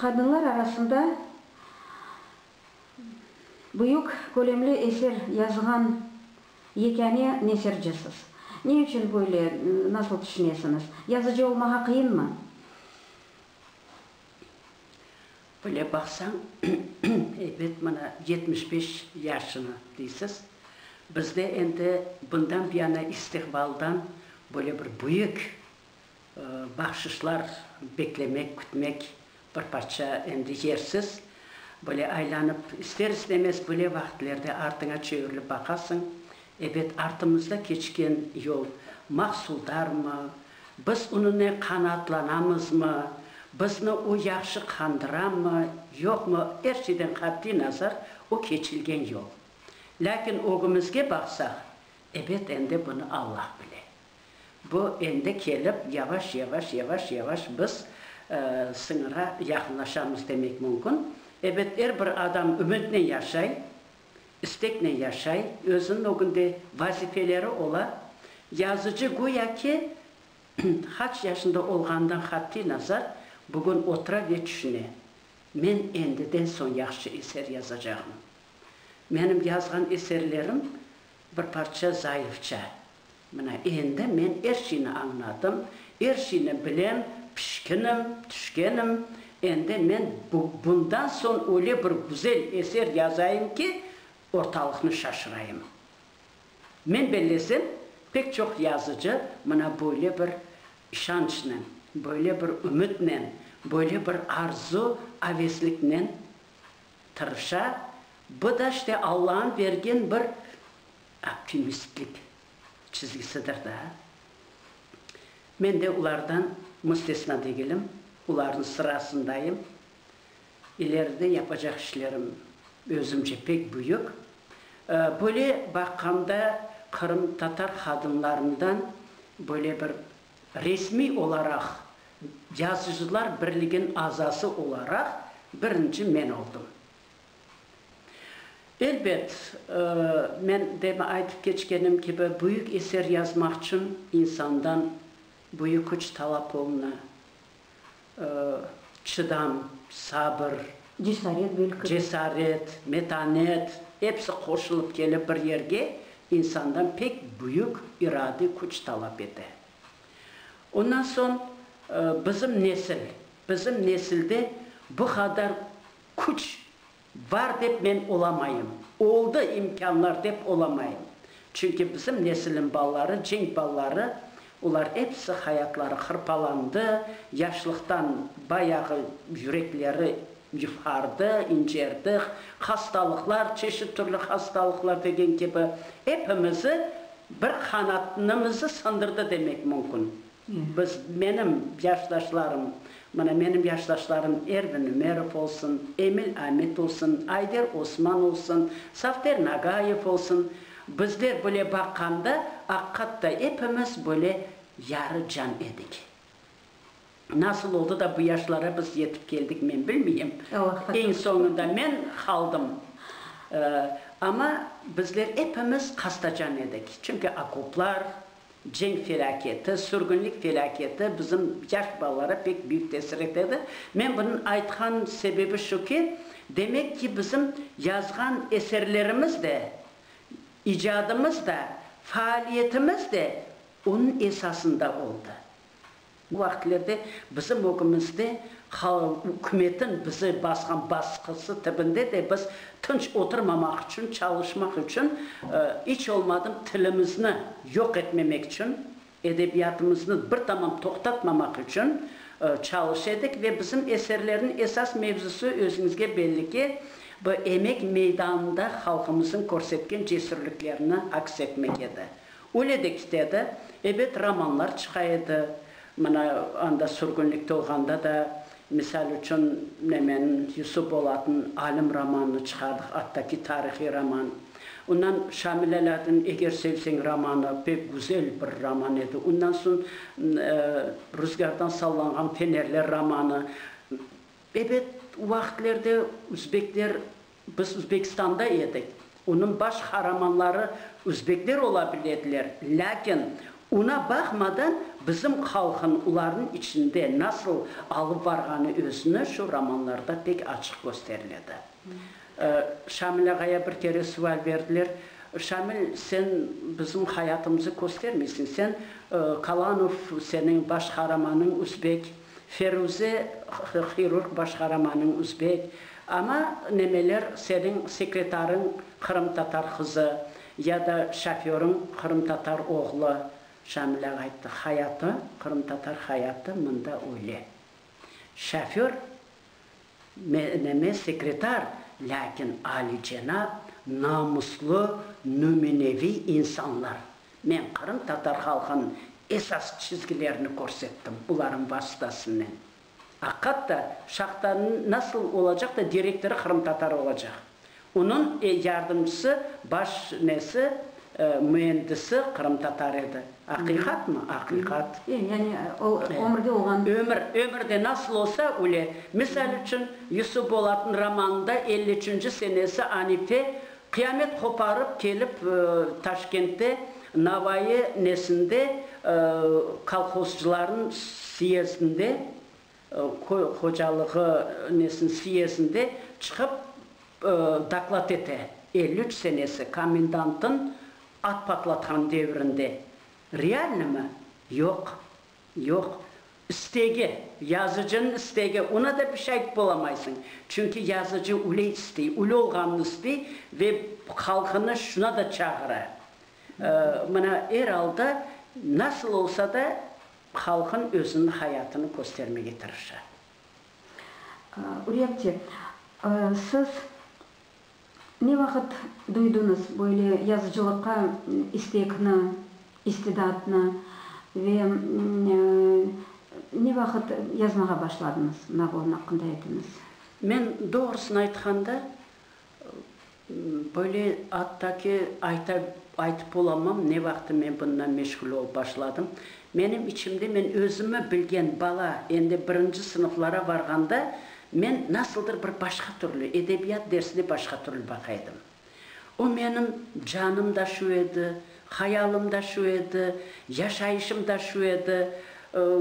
Qadınlar arasında büyük kölemli eser yazğan yekâne neşircisız. Ne içün böyle, nasıl tüşünesiñiz? Yazıcı olmağa qıyınmı? Böyle baqsañ, ebet, mana yetmiş beş yaşını deysiz. Bizde endi bundan buyana istiqbaldan böyle bir büyük. Bahşışlar beklemek, kütmek bir parça endi yersiz. Böyle aylanıp, ister-istemez böyle vaqitlerde artıña çevirilip baqasıñ, ebet, artımızda keçken yol mahsuldarmı, biz onınen qanaatlanamızmı, bizni o yahşı qandıramı, yoqmı, er şeyden qatiy nazar o keçilgen yol. Lâkin ögümizge baqsaq, ebet, endi bunı Allah bile. Bu endi kelip, yavaş, yavaş, yavaş, yavaş biz sıñırğa yaqınlaşamız demek mümkün. Ebet, er bir adam ümütnen yaşay, isteknen yaşay, özüniñ ögünde vazifeleri ola. Yazıcı güya ki, qaç yaşında olğanından qatiy nazar, bugün otura ve tüşüne, Men endiden soñ yahşı eser yazacağım. Menim yazğan eserlerim Bir parça zayıfça. Mına, endi men er şeyni añladım, er şeyni bilem, pişkinim, tüşkenim. Endi men bu, bundan soñ öyle bir güzel eser yazayım ki, ortalıqnı şaşırayım. Men bellesem, pek çoq yazıcı mına böyle bir işançnen, böyle bir ümütnen, böyle bir arzu, avesliknen. tırışa, bu da işte Allañıñ bergen bir optimistlik çizgisidir daa. Men de ulardan müstesna degilim, ularnıñ sırasındayım. İleride yapacaq işlerim özümce pek büyük. Böyle baqqanda qırımtatar qadınlarından böyle bir Resmiy olaraq Yazıcılar birligin azası olaraq birinci men oldım. Elbet, men demi aytıp keçkenim kibi, büyük eser yazmaqçın insandan büyük küç talap oluna. çıdam, sabır, cesaret, metanet, episi qoşulıp kelip bir yerge insandan pek büyük iradiy küç talap ete. Ondan soñ bizim nesil, bizim nesilde bu qadar küç Bar dep men olamayım, oldı imkânlar dep olamayım. Çünki bizim nesilim balaları, cenk balaları, olar episi hayatları hırpalandı, yaşlıqtan bayağı yürekleri yufhardı, incerdi, hastalıqlar, çeşit türlü hastalıqlar degen kibi epimizi bir qanatnımızı sındırdı demek mümkün. Biz, menim yaşdaşlarım, mına, menim yaşdaşlarım Ervin Ümerov olsun, Emil Amit olsun, Ayder Osman olsun, Safter Nagayev olsun, bizler böyle baqqanda, aqqatta epimiz böyle yarı can edik. Nasıl oldı da bu yaşlara biz yetip keldik, men bilmeyim. Eñ soñunda men qaldım. Amma bizler epimiz qastacan edik. Çünki okoplar, Cenk felâketi, sürgünlik felâketi bizim yaş balalara pek büyük tesir etedi. Men bunıñ aytqan sebebi şu ki, demek ki, bizim yazğan eserlerimiz de, icadımız da, faaliyetimiz de onıñ esasında oldı. O vaqıtlarda bizim ögümizde ükümetin bizi basqan basqısı tibinde de biz tınç oturmamaq içün, çalışmaq içün, iç olmadım tilimizni yoq etmemek içün, edebiyatımıznı bir tamam toqtatmamaq içün çalış edik ve bizim eserlerniñ esas mevzusı, özüñizge belli ki, bu emek meydanında halqımıznıñ körsetken cesürliklerini aks etmek edi. Öyle de kitedi. Ebet, romanlar çıqa edi. Mına, anda sürgünlikte olğanda da, misal içün, nemen, Yusuf Bolatnıñ Alim romanını çıqardıq, attaki tarihiy roman. Ondan Şamil Alâddinniñ Eger sevseñ romanı pek güzel bir roman edi. Ondan soñ Ruzgârdan sallanğan fenerler romanı. Ebet, o vaqıtlerde özbekler Biz Özbekistanda edik. Onıñ baş qaramanları özbekler ola bile ediler, lâkin ona baqmadan bizim halqın olarnıñ içinde nasıl alıp barğanı özüni şu romanlarda pek açıq kösterile edi. Şamil ağaya bir kere sual berdiler, Şamil, sen bizim hayatımızı köstermeysiñ, sen Kalanov, seniñ baş qaramanıñ özbek. Feruze, hirurg baş qaramanıñ üzbek, amma nemeler seniñ sekretarıñ qırımtatar qızı ya da şoförıñ qırımtatar oğlu? Şamil ağa ayttı, hayatı, qırımtatar hayatı mında öyle. Şoför. Meme sekretar, lâkin alicenap, namuslı, nümüneviy insanlar. Men qırımtatar halqınıñ esas çizgilerini körsettim olarnıñ vasıtasınen. Aqat da, şahtanıñ nasıl olacaq da direktorı qırımtatar olacaq. Onıñ yardımcısı, baş nesi, müendisi qırımtatar edi. Aqiqatmı? Aqiqat. E, yani o, ömürde olğan. Ömür, ömürde nasıl olsa, öyle. Misal içün, Yusuf Bolatnıñ romanında elli üçünci senesi anite qıyamet qoparıp kelip, Taşkentte Navayı nesinde, kolhozcılarnıñ syezdinde Köy hocalığı nesini siyesinde çıqıp doklad ete, elli üç senesi komendantın at patlatqan devrinde. Realnıymı? Yoq, yoq. İstegi, yazıcınıñ istegi, oña da bir şey aytıp bolamaysıñ. Çünki yazıcı üyle istey, üyle olğanını istey ve halqını şuna da çağıra. Mına, er alda, nasıl olsa da Halqın özüniñ hayatını köstermege tırışa. Ürepti. Siz ne vaqıt duydıñız böyle yazıcılıqqa istekni, istidatnı ve ne vaqıt yazmağa başladıñız? Nagorno aqqında aytıñız. Men, doğrusını aytqanda, Böyle atta ki, ayta, aytıp olamam, ne vaqtı men bundan meşğul olıp başladım. Menim içimde men özümi bilgen bala, endi birinci sınıflara barğanda men nasıldır bir başqa türlü, edebiyat dersine başqa türlü baqaydım. O menim canım da şu edi, Hayalım da şu edi, yaşayışım da şu edi.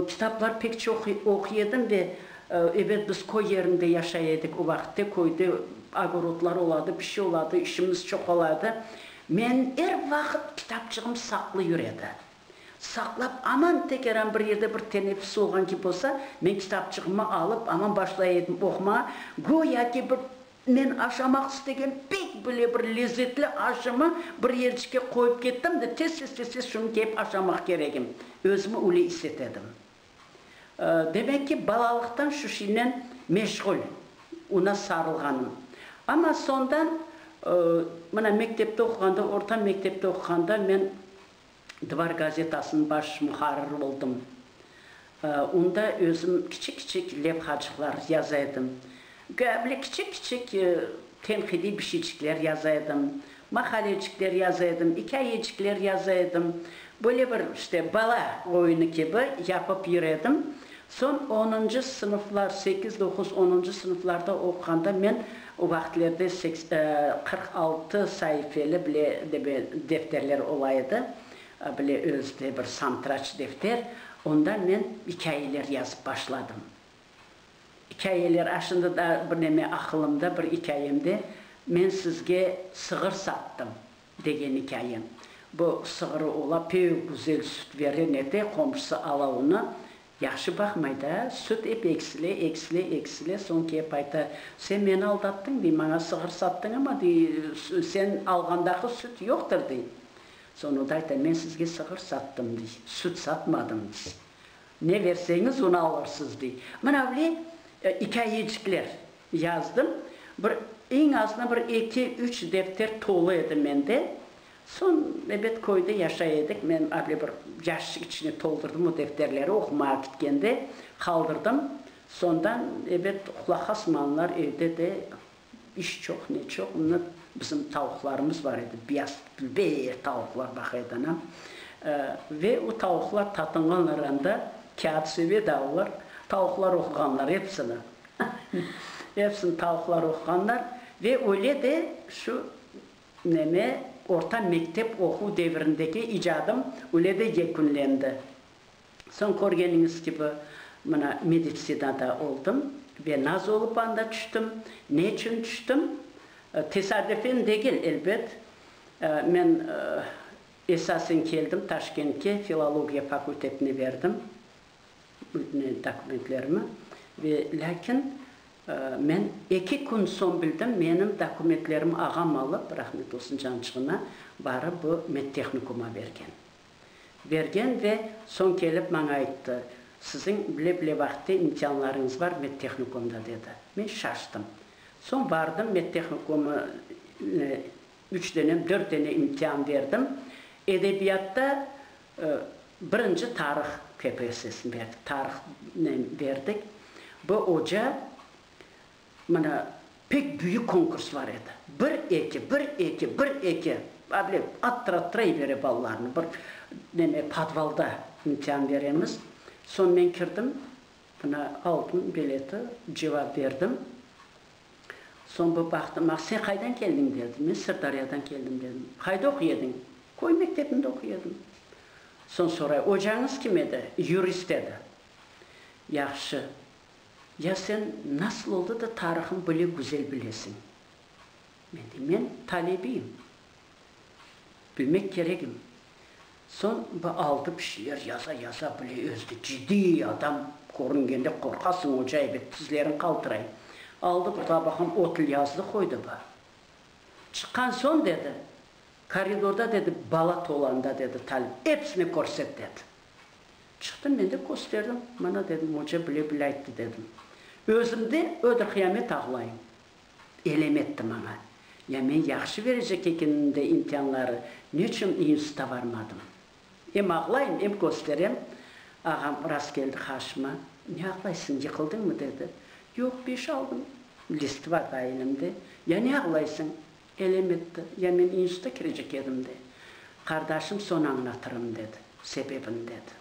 Kitaplar pek çoq oquy edim ve, ebet, biz köy yerinde yaşay edik o vaqıtte, köyde ogorodlar oladı, bir şey oladı, işimiz çoq oladı. Men er vaqıt kitapçığım saqlı yür edi. Saqlap, aman tekeran bir yerde bir teneffüs olğan kibi olsa, men kitapçığımı alıp, aman başlay edim oqumağa, göya ki, bir Men aşamaq istegen pek bile bir lezzetli aşımı bir yercike qoyıp kettim de, tez-tez-tez-tez şunı kiyip aşamaq keregim. Özümi üle iset edim. Demek ki, balalıqtan şu şeynen meşğul, una sarılğanım. Amma sondan, mına, mektepte oquğanda, orta mektepte oquğanda men. Dvar gazetasınıñ baş muharriri oldım. Onda özüm kiçik-kiçik levhacıqlar yaza edim. Göya bile kiçik-kiçik tenqidiy bir şeycikler yaza edim, maqalecikler yaza edim, ikâyecikler yaza edim. Böyle bir, işte, bala oyunı kibi yapıp yüredim. Soñ onuncı sınıflar, sekiz, doquz, onuncı sınıflarda oquğanda men o vaqtlerde seks, qırq altı saifeli bile debe defterler ola edi, bile özde bir santraç defter, onda men ikâyeler yazıp başladım. İkâyeler, a şimdi daa bir neme aqılımda, bir ikâyemde, men sizge sığır sattım, Degen ikâyem. Bu sığırı ola pek güzel süt bere, ne de qomşusı ala onı, yahşı baqmay da, süt ep eksile, eksile, eksile, soñ kelip ayta, Sen meni aldattıñ, dey, maña sığır sattıñ, amma, dey, sen alğandaqı süt yoqtır, dey. Soñ o da ayta, Men sizge sığır sattım, dey, süt satmadım, dey. Ne berseñiz, onı alırsız, dey. Mına bile ikâyecikler. Yazdım. Bir, eñ azına bir eki, üç defter tolu edi mende. Soñ, ebet, köyde yaşay edik, men avle bir yaşçık içine toldurdım o defterleri, oqumağa kitkende qaldırdım. Sondan, ebet, qulaqa smanlar evde de iş çoq, ne çoq, mına, bizim tavuqlarımız bar edi, biyaz, beyir tavuqlar baq edi anam. Ve o tavuqlar tatınğanlar anda, kâğıt söbedi alırlar, tavuqlar oquğanlar, epsini. Hepsini tavuqlar oquğanlar ve öyle de şu neme orta mektep oquv devirindeki icadım öyle de yekünlendi. Soñ körgeniñiz kibi mına meditsinada oldım ve naz olıp anda tüştim. Ne içün tüştim? Tesadüfen degil, elbet. Men esasen keldim Taşkentke, filologiya fakultetine berdim. Bütün dokumentlerimi ve lâkin men eki kün soñ bildim, menim dokumentlerim ağam alıp, rahmet olsun cançığına, barıp bu medtehnikuma bergen. Bergen ve soñ kelip maña ayttı, siziñ bile-bile vaqıtta imtianlarıñız bar medtehnikumda, dedi. Men şaştım. Soñ bardım medtehnikuma, üç dene, dört dene imtian berdim. Edebiyatta Birinci tarih KPSSni berdik, tarihnen berdik. Bu oca, mına, pek büyük konkurslar edi. Bir, eki, bir, eki, bir, eki, able attıra-attıraybere balalarnı. Bir, neme, podvalda imtihan beremiz. Soñ men kirdim, mına, aldın bileti, cevap berdim. Soñ bir baqtım, a sen qaydan keldiñ, dedi. Men Sırdaryadan keldim, dedim. Qayda oquy ediñ? Köy mektebinde oquy edim. Soñ soray, ocañız kim edi? Yurist edi. Yahşı, ya sen nasıl oldı da tarihın böyle güzel bilesiñ? Men deyim, men talebiyim, Bilmek kerekmi, soñ bu aldı pişler yaza-yaza bile özdi, ciddiy adam körüngende qorqasıñ, oca ebet tizleriñ qaltıray. Aldı bir tabaqam otl yazdı qoydı ba. Çıqqan soñ dedi, koridorda dedi, bala tolanda dedi, talim, episine körset dedi. Çıqtım men de kösterdim, mına dedim, oca bile-bile ayttı dedim. Özümde ödür-qıyamet ağlayım. Elem etti maña. Ya men yahşı verecek ekenim de imtianları, neçün iinstuta barmadım? Em ağlayım, em kösterem. Ağam rast keldi qarşıma. Ne ağlaysıñ, yıqıldıñmı? dedi. Yoq, beş aldım. List bar da elimde. Ya ne ağlaysıñ? Elem etti. Ya men iinstuta kirecek edim de. Qardaşım, soñ añlatırım, dedi. Sebebini dedi.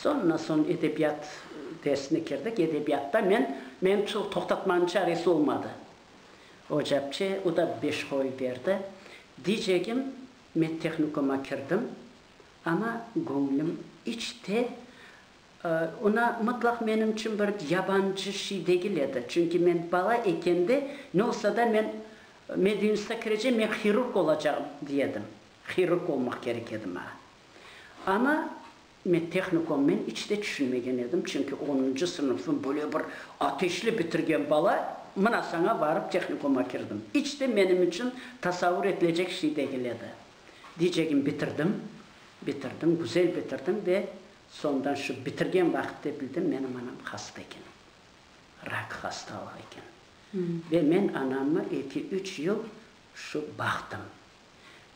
Soñra soñ edebiyat dersine kirdik. Edebiyatta men, men şol toqtatmanıñ çaresi olmadı. Ocapçe, o da beş qoy berdi. Diycegim, medtehnikuma kirdim, amma göñlüm iç te, ona mıtlaq menim içün bir yabancı şey degil edi. Çünki men bala ekende, ne olsa da men medinstitutqa kirecem, men hirurg olacağım, diy edim. Hirurg olmaq kerek edi maña. Ana, men tehnikomnen iç de tüşünmegen edim, çünki onuncı sınıfnı böyle bir ateşli bitirgen bala, mına saña barıp tehnikoma kirdim. İç de menim içün tasavur etilecek şey degil edi. Diycegim, bitirdim, bitirdim, güzel bitirdim ve sondan şu bitirgen vaqıtte bildim, menim anam hasta eken, rak hastalıq eken. Ve men anamnı eki-üç yıl şu baqtım.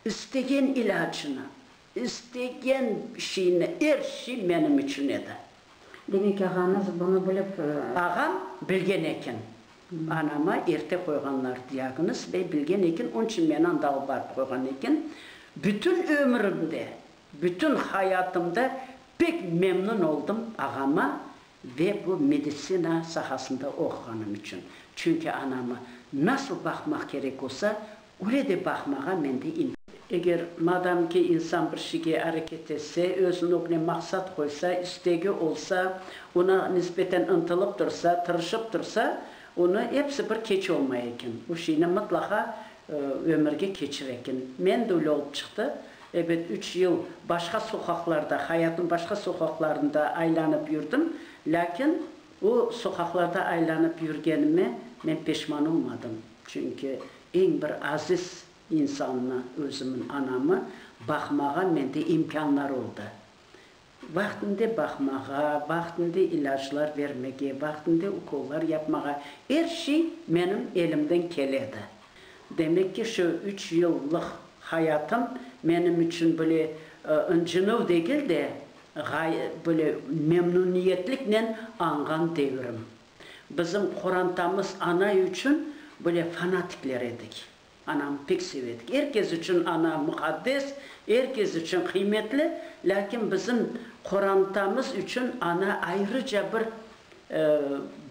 İstegen ilâcını, istegen şeyni, er şey menim içün edi. Demek, ağañız bunı bilip. Ağam bilgen eken. Anama erte qoyğanlar diagnoz ve bilgen eken, onıñ içün meni anda alıp barıp qoyğan eken. Bütün ömrümde, bütün hayatımda pek memnün oldım ağama Ve bu meditsina sahasında oquğanım içün. Çünki anamı nasıl baqmaq kerek olsa, öyle de baqmağa mende imkâniyet. Eger, madam ki, insan bir şeyge areket etse, öz nögüne maqsat qoysa, istegi olsa, oña nisbeten ıntılıp tursa, tırışıp tursa, onı episi bir keç olmay eken. O şeyni mıtlaqa Ömürge keçir eken. Men de öyle olıp çıqtı. Ebet, üç yıl başqa soqaqlarda, hayatnıñ başqa soqaqlarında aylanıp yürdim, lâkin o soqaqlarda aylanıp yürgenime men peşman olmadım. Çünki eñ bir aziz insannı, özümiñ anamı baqmağa mende imkânlar oldı. Vaqtında baqmağa, vaqtında ilâclar bermege, vaqtında ukollar yapmağa, er şey menim elimden kele edi. Demek ki, şu üç yıllıq hayatım menim içün böyle ıncınıv degil de, böyle memnuniyetliknen añğan devrim. Bizim qorantamız anay içün böyle fanatikler edik. Anam pek sevedik. Er kes içün ana muqaddes, er kes içün qıymetli, lâkin bizim qorantamız içün ana ayrıca bir,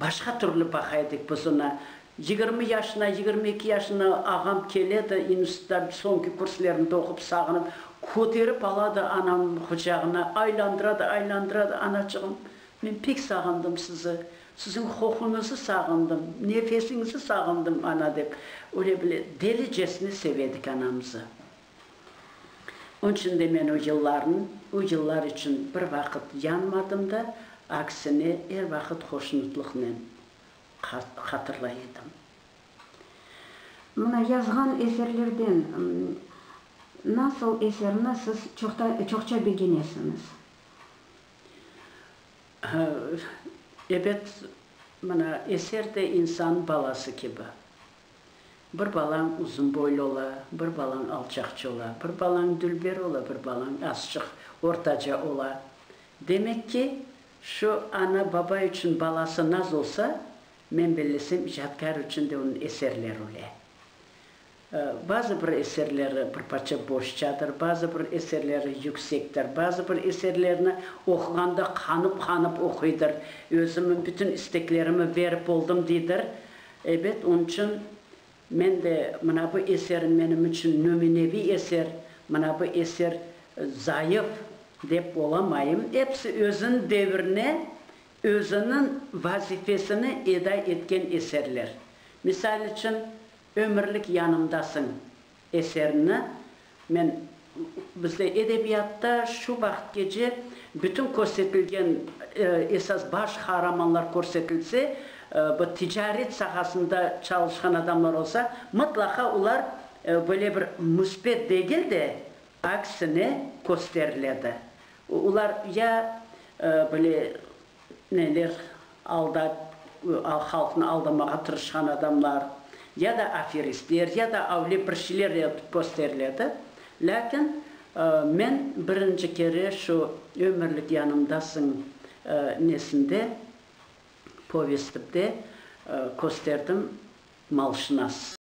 başqa türlü baqa edik biz onı. Yigirmi yaşına, yigirmi eki yaşına ağam kele de, institutda soñki kurslerinde oqup, sağınıp, köterip ala da anam quçağına, aylandıra da, aylandıra da, Anaçığım, men pek sağındım sizi, Siziñ qoquñızı sağındım, nefesiñizi sağındım, ana, dep, öyle bile delicesine sevedik anamızı. Onıñ içün de men o yıllarnıñ, o yıllar içün bir vaqıt yanmadım da, aksine, er vaqıt hoşnutlıqnen hatırlay edim. Mına yazğan eserlerden nasıl eserni siz çoqça begenesiñiz? Ebet, mana, eser de insan balası kibi. Bir balañ uzun boylu ola, bir balañ alçaqçı ola, bir balañ dülber ola, bir balañ azçıq ortaca ola. Demek ki, şu ana-baba içün balası naz olsa, men bellesem, icadkâr içün de onıñ eserleri öyle. Bazı bir eserleri bir parça boşçadır, bazı bir eserleri yüksektir, bazı bir eserlerini oquğanda qanıp-qanıp oquydır, özümi, bütün isteklerimi verip oldım deydir. Ebet, onıñ içün men de mına bu eserim menim içün nümüneviy eser, mına bu eser zayıf dep olamayım. Episi özüniñ devirine, özüniñ vazifesini eda etken eserler. Misal içün, Ömürlik yanımdasıñ eserini men bizde edebiyatta şu vaqıtgece bütün körsetilgen esas baş qahramanlar körsetilse, bu ticaret sahasında çalışqan adamlar olsa, mıtlaqa olar böyle bir müsbet degil de, aksine kösteriledi. Olar ya böyle Neler aldap, halqnı aldamağa tırışqan adamlar, ya da aferistler, ya da avle bir şeyler etip kösteriledi. Lâkin men birinci kere şu Ömürlik yanımdasıñ nesinde, povestimde kösterdim, Malşınas.